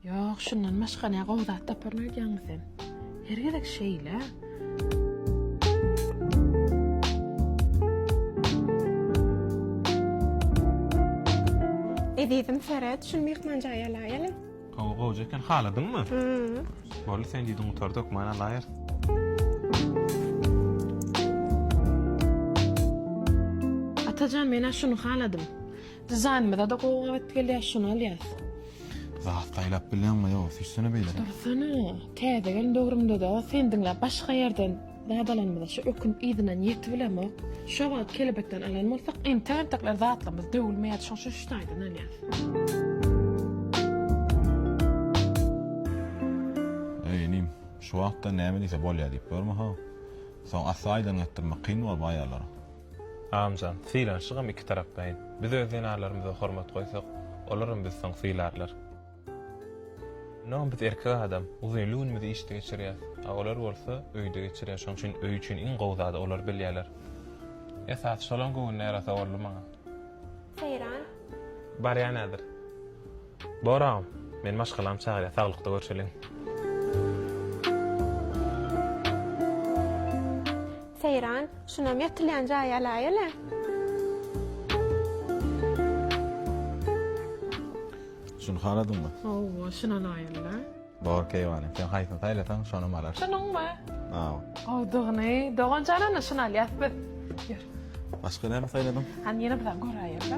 Ýok, şundan başga ne gowy zat taparyn öýdýäňmi sen? Her gezek şeýle. Ezizim seret, şuny myhman jaýa alaýalyň. Gowy, gowja eken. Haladyňmy? Hü. Boldy, sen diýdiň gutardy, hökman alaýarys. Atajan, men-ä şuny haladym. Dizaýnymyza-da gowy gabat gelýär, şuny alýas. Zat saýlap bilýäňmi ýok, süýşsene beýle. Dursana, täze gelin döwrümde-de seni diňläp başga ýerden zat alanymyza şu ökünip yzyndan ýetip bilemok. Şo wagt kelebekden alan bolsak, entek entekler zatlarymyz döwülmeýärdi, şoň üçin şu taýdan alýas. Eý, inim, şu wagtda näme diýse bolýar diýip görme-ha. Soň asla aýdan gatdyrmak kyn bolup aýallara. Amjan, sylanşygam iki taraplaýyn. Biz öz zenanlarymyza hormat goýsak, olaram bizi soň sylarlar. Onsoňam biz erkek adam, uzynly günümizi işde geçirýäs. A olar bolsa, öýde geçirýär. Şonuň üçin öý üçin iň gowy zady olar bilýärler. Esasy şolaň göwnüne ýarasa boldy maňa. Seýran. Barýan häzir. Bor agam. Meni maşgalam çagyrýar saglykda görşeliň. Seýran, şunam ýatylýan jaýy alaýaly. Şuny haladyňmy? Hawa, şuny alaýaly. Dogry keýwany. Sen haýsyny saýlasaň, şonam alar. Şunuňmy? Hawa. Gowdugyny, dogan janany şuny alýas biz. Ýör. Başga näme saýladyň? Hany ýene bir zat göräýeň-dä.